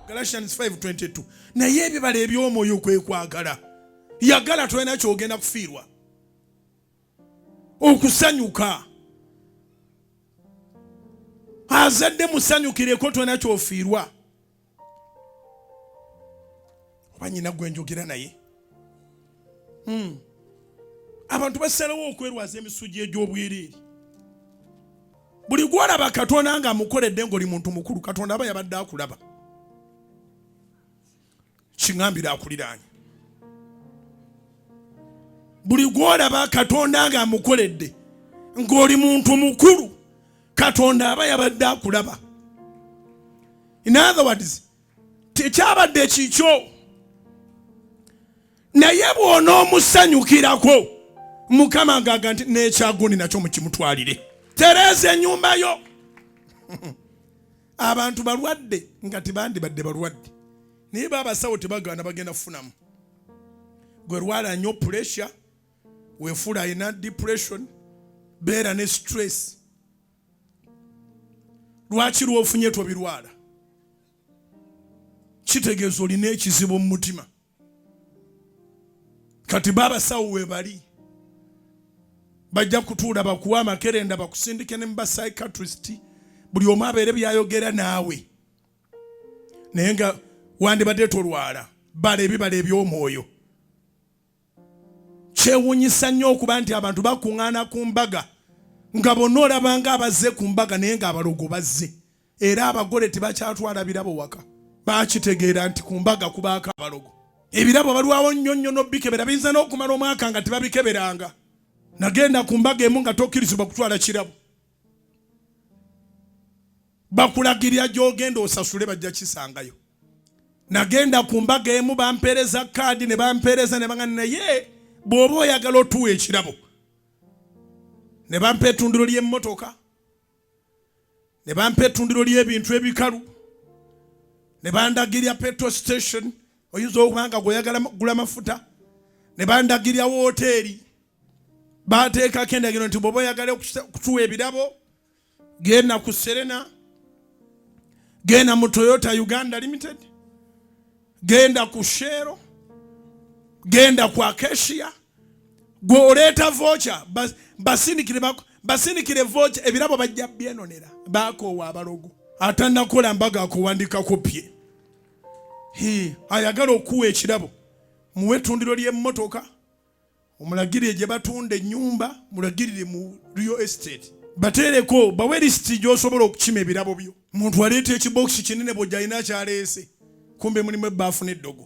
Galatians 5:22 naye ebibala eby'omwoyo kwe kwagala yagala tolina kyogenda kufiirwa okusanyuka azadde musanyukireko tolina kyofiirwa oba nyina gwe njogera naye hmm. abantu basalawo okwerwaza emisugi egy'obwereere buli gwolaba katonda nga amukoledde ngaoli muntu mukulu katonda aba yabadde akulaba kiŋambire akuliraanye buli gwolaba katonda nga amukoledde ng'oli muntu mukulu katonda aba yabadde akulaba in other words tekyabadde kikyo naye bwona omusanyukirako mukama agaga nti nekyagundi nakyo mukimutwalire tereeza enyumba yo abantu balwadde nga tibandibadde balwadde naye baabasawo tebagaana bagenda kufunamu gwe lwala nyo puresure wefuula alina depression beera ne stress lwaki lwofunye tobirwala kitegeeza olina ekizibu mu mutima kati baabasawo webali bajja kutuula bakuwa amakerenda bakusindike ne muba psychiatrist buli omu abeere byayogera naawe naye nga wandibadde tolwala bala ebibala eby'omwoyo Kyewunyisa nnyo okuba nti abantu bakuŋŋaana ku mbaga nga bonna olabanga abazze ku mbaga naye ng'abalogo bazze era abagole tebakyatwala birabo waka baakitegeera nti ku mbaga kubaako abalogo ebirabo balwawo nnyo nnyo n'obikebera biyinza n'okumala omwaka nga tebabikeberanga nagenda ku mbaga emu nga tokkirizibwa kutwala kirabo bakulagirira gy'ogenda osasule bajja kisangayo nagenda ku mbaga emu bampeereza kaadi ne bampeereza ne bagana naye bw'oba oyagala otuwa ekirabo ne bampa etundiro ly'emmotoka ne bampa etundiro ly'ebintu ebikalu ne bandagirya petrol station oyinza okuba nga gweoyagala gula mafuta ne bandagirya wooteeri baateekako endagiro nti bwoba oyagala okutuwa ebirabo genda ku serena genda mu toyota uganda limited genda ku sheero genda ku acacia gwe oleeta voca basindikire voca ebirabo bajja byenonera bakoowa abalogo atanakola mbaga akuwandikako pye ayagala okuwa ekirabo muwe ettundiro ly'emmotoka omulagirire gye batunda ennyumba mulagirire mu real estate bateereko bawe lisiti gy'osobola okukima ebirabo byo muntu aleeta ekibokisi kinene bwojja alina akyaleese kumbe mulimu ebbaafu n'eddogo